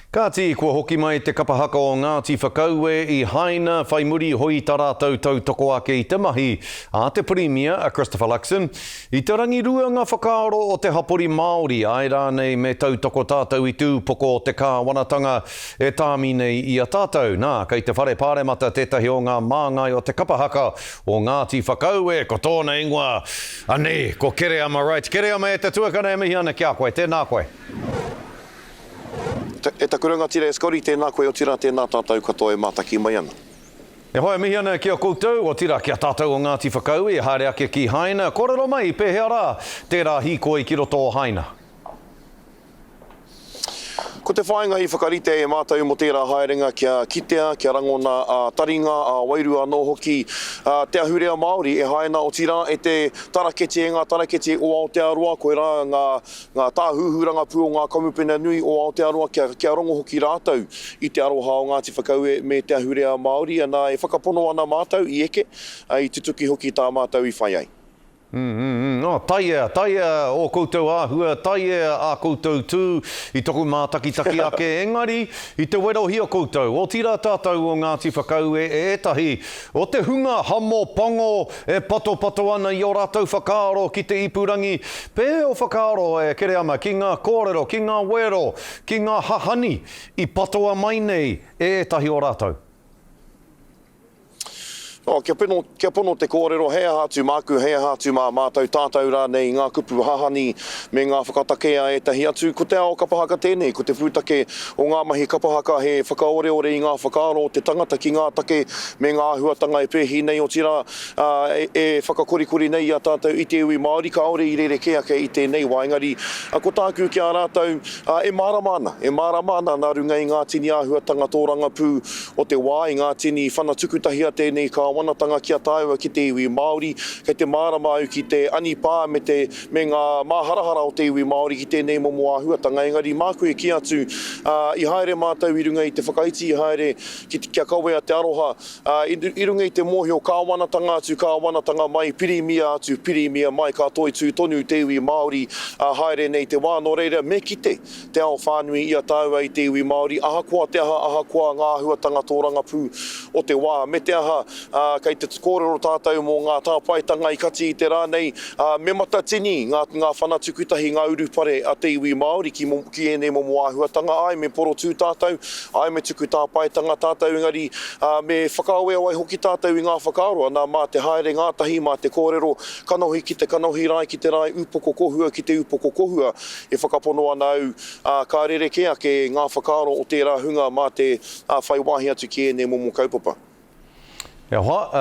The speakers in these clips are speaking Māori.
Kāti, kua hoki mai te kapa haka o Ngāti Whakaue i Haina, whai muri hoi tā rātou tautoko ake i te mahi a te Pirimia, a Christopher Luxon. I te rangirua ngā whakaaro o te hapori Māori, āe rānei me tautoko tātou i te upoko o te kāwanatanga e tāmi nei i a tātou. Nā, kei te Whare Pāremata tētahi o ngā māngai o te kapa haka o Ngāti Whakaue, ko tōna ingoa, anei, ko Kereama Wright. Kereama e te tuakana e mihi ana ki a koe, tēnā koe. E taku rangatira e Scotty, tēnā koe, otirā, tēnā tātou katoa e mātaki mai ana. E whai mihi ana ki a koutou, otirā ki a tātou o Ngāti Whakaui, haere ake ki Haina, kōrero mai pēhea rā tērā hīkoi ki roto o Haina. Ko te whāinga i whakarite e mātou mō tērā haerenga kia kitea, kia rangona ā-taringa, ā-wairua anō hoki te ahurea Māori e Haina, otirā e te taraketi, e ngā taraketi o Aotearoa, koirā ngā ngā tāhuhu rangapū o ngā kamupene nui o Aotearoa kia, kia rongo hoki rātou i te aroha o Ngāti Whakaue me te ahurea Māori, anā, e whakapono ana mātou i eke, ā, i tutuki hoki tā mātou i whai ai. Mm-mm-mm. Oh, taia, taia ō koutou āhua, taia ā koutou tū i toku mātakitaki ake, engari, i te werohia koutou, otirā tātou o Ngāti Whakaue e ētahi O te hunga hamo pango e patopato ana i ō rātou whakaaro ki te ipurangi, pēhea o whakaaro e kere ana ki ngā kōrero, ki ngā wero, ki ngā hahani i patoa mai nei e ētahi o rātou? Oh, kia pono, kia pono te kōrero, hei aha atu māku, hei aha atu mā mātou, tātou rānei i ngā kupu hahani Me ngā whakatake a ētahi atu, ko te ao kapa haka tēnei, ko te pūtake o ngā mahi kapa haka he whakaoreore i ngā whakaaro o te tangata ki ngā take me ngā āhuatanga e pēhi nei, otirā, e whakakorikori nei i a tātou i te iwi Māori, kāore i rerekē ake i tēnei wā. Engari, ko tāku ki a rātou, e mārama ana, e mārama ana nā runga i ngā tini āhuatanga tōrangapū o te wā, i ngā tini whana tukutahia tēnei kāwanatanga ki a tāua ki te iwi Māori, kei te mārama au ki te anipā me te me ngā māharahara o te iwi Māori ki tēnei momo āhuatanga, engari māku e kī atu, ā, i haere mātou i runga i te whakaiti, i haere ki te, kia kawea te aroha, ā, i, i runga i te mōhio kāwanatanga atu, kāwanatanga mai, pirimia atu, pirimia mai, ka toitū tonu te iwi Māori, ā, haere nei te wā, nō reira, me kite, te ao whānui i a tāua i te iwi Māori, ahakoa te aha, ahakoa ngā āhuatanga tōrangapū o te wā, me te aha, ā, kei te kōrero tātou mō ngā tāpaetanga i kati i te rā nei, ā, me matatini ngā, ngā whana tukutahi, ngā urupare a te iwi Māori ki, ki ēnei momo āhuatanga, āe, me porotū tātou, āe, me tuku tāpaetanga tātou, engari, ā, me whakaaweawe hoki tātou i ngā whakaaro, anā, mā te haere ngātahi, mā te kōrero, kanohi ki te kanohi, rae ki te rae, upoko kohua ki te upoko kohua, E whakapono ana au, ā, ka rerekē ake ngā whakaaro o tērā hunga mā te whai wāhi atu ki ēnei momo kaupapa. E hoa, ā,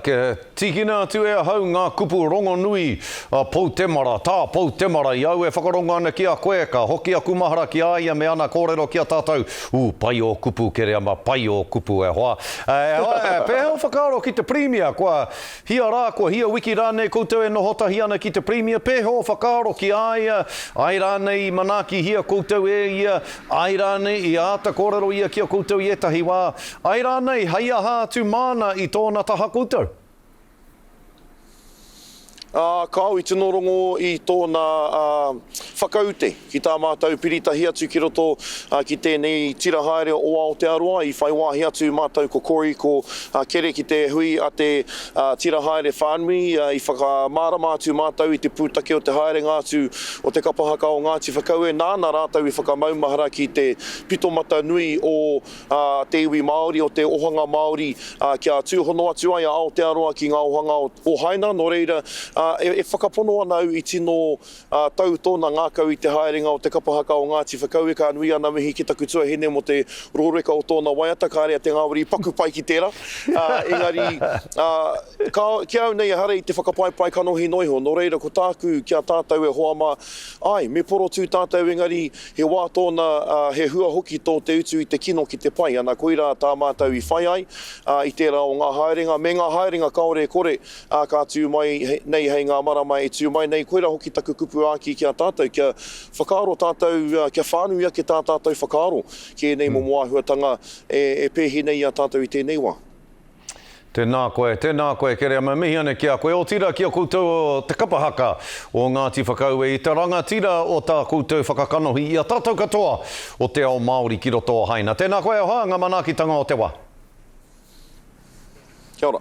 kia tīkina atu e ahau ngā kupu rongonui a Poutemara, tā Poutemara, i au e whakarongo ana ki a koe, ka hoki aku mahara ki a ia me ana kōrero ki a tātou, ū, pai ō kupu, Kereama, pai ō kupu, e hoa. E hoa, pēhea ō whakaaro ki te Pirimia, kua Hia rā, kua hia wiki rānei koutou e noho tahi ana ki te Pirimia, pēhea o whakaaro ki a ia, āe rānei i manaakihia koutou e ia, āe rānei i āta kōrero ia ki a koutou i ētahi wā, āe rānei hei aha atu māna i tōna taha koutou? Ā, kāo i tino rongo i tōna whakaute. Ki tā mātou piri tahi atu ki roto ki tēnei tira haere o Aotearoa, i whai wāhi atu mātou ko Corey, ko Kere ki te hui a te tira haere whānui, i whakamārama atu mātou i te pūtake o te haerenga atu o te kapa haka o Ngāti Whakaue, nāna rātou i whakamaumahara ki te pito mata nui o te iwi Māori, o te ohanga Māori, kia tūhono atu ai a Aotearoa ki ngā ohanga o Haina, nō reira, e whakapono ana au i tino Ā tau tōna ngākau i te haerenga o te kapa haka o Ngāti Whakaue, ka nui ana mihi ki taku tuahine mō te rōreka o tōna waiata, kāre a Te Ngāwari i paku pai ki tērā, ā, engari, ā, ka, ki au nei ehara i te whakapaepae kanohi noa iho, nō reira ko tāku ki a tātou e hoa mā, āe, me porotū tātou engari he wā tōna, ā, he hua hoki tō te utu i te kino ki te pai, ana koirā tā mātou i whai ai, ā, i tērā o ngā haerenga, me ngā haerenga kāore e kore, Ā, ka tū mai nei hei ngā marama e tū mai nei, koirā hoki taku kupu āki ki a tātou, kia whakaaro tātou, kia whānui ake tā tātou whakaaro ki ēnei momo āhuatanga e pēhi nei i a tātou i tēnei wā. Tēnā koe, tēnā koe Kerea, me mihi ana ki a koe, otirā ki a koutou te kapa haka o Ngāti Whakaue i te rangatira o tā koutou whakakanohi i a tātou katoa o te ao Māori ki roto o Haina. Tēnā koe e hoa, ngā manaakitanga o te wā. Kia ora.